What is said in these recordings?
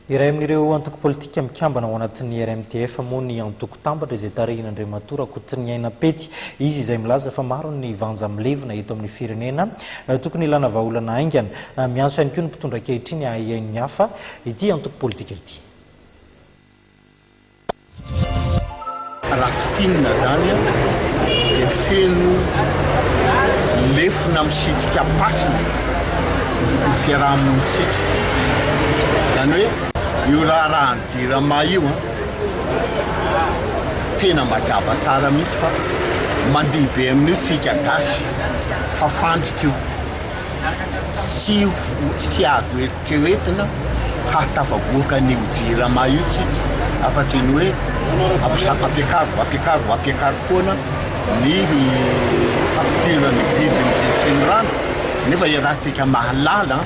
Iray amin'ireo antoko politika mikambana ao anatin'ny RMDF moa ny Antoko Tambatra izay tarihin'Andriamatoa Rakotoniaina Pety. Izy izay milaza fa maro ny vanja milevina eto amin'ny firenena, tokony hilana vahaolana haingana. Miantso ihany koa ny mpitondra ankehitriny hahahiain'ny hafa ity antoko politika ity. Raha fintinina izany dia feno lefona misitrika am-pasina ny fiaraha-monintsika. Izany hoe io raharahan'ny Jirama io tena mazava tsara mihitsy fa mandihy be amin'io tsika gasy fa fandrika io. Tsy ho, tsy azo. Tsy ho entina hahatafavoaka an'io Jirama io isika afa-tsy ny hoe ampiakaro, ampiakaro, ampiakaro foana ny facture, ny vidin'ny jiro sy ny rano nefa iarahantsika mahalala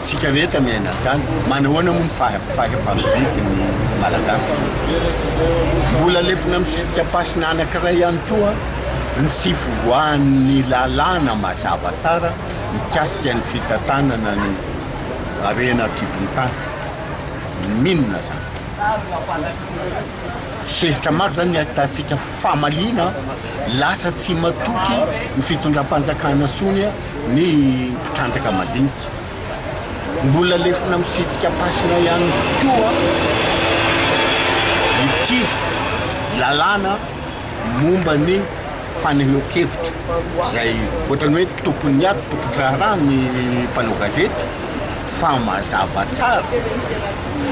isika rehetra miaina an'izany. Manahoana moa ny fahefa-mividy ny Malagasy? Mbola lefona misidikam-pasin'anankiray ihany koa ny tsy fivoahan'ny lalàna mazava tsara mikasika ny fitantanana ny harena an-kibon-tany. Maninona izany? Sehatra maro izany ny ahitantsika famaliana, lasa tsy matoky ny fitondram-panjakana sony ny mpitrandraka madinika. Mbola lefona misitrika am-pasina ihany koa ity lalàna. momba ny fanehoan-kevitra izay ohatran'ny hoe tompon'ny ady, tompon-draharaha ny mpanao gazety fa mazava tsara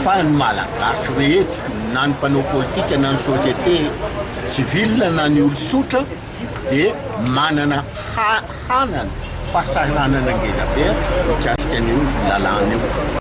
fa ny Malagasy rehetra na ny mpanao politika na ny société civile na ny olon-tsotra dia manana hanana fahasahiranana ngezabe mikasika an'io lalàna io.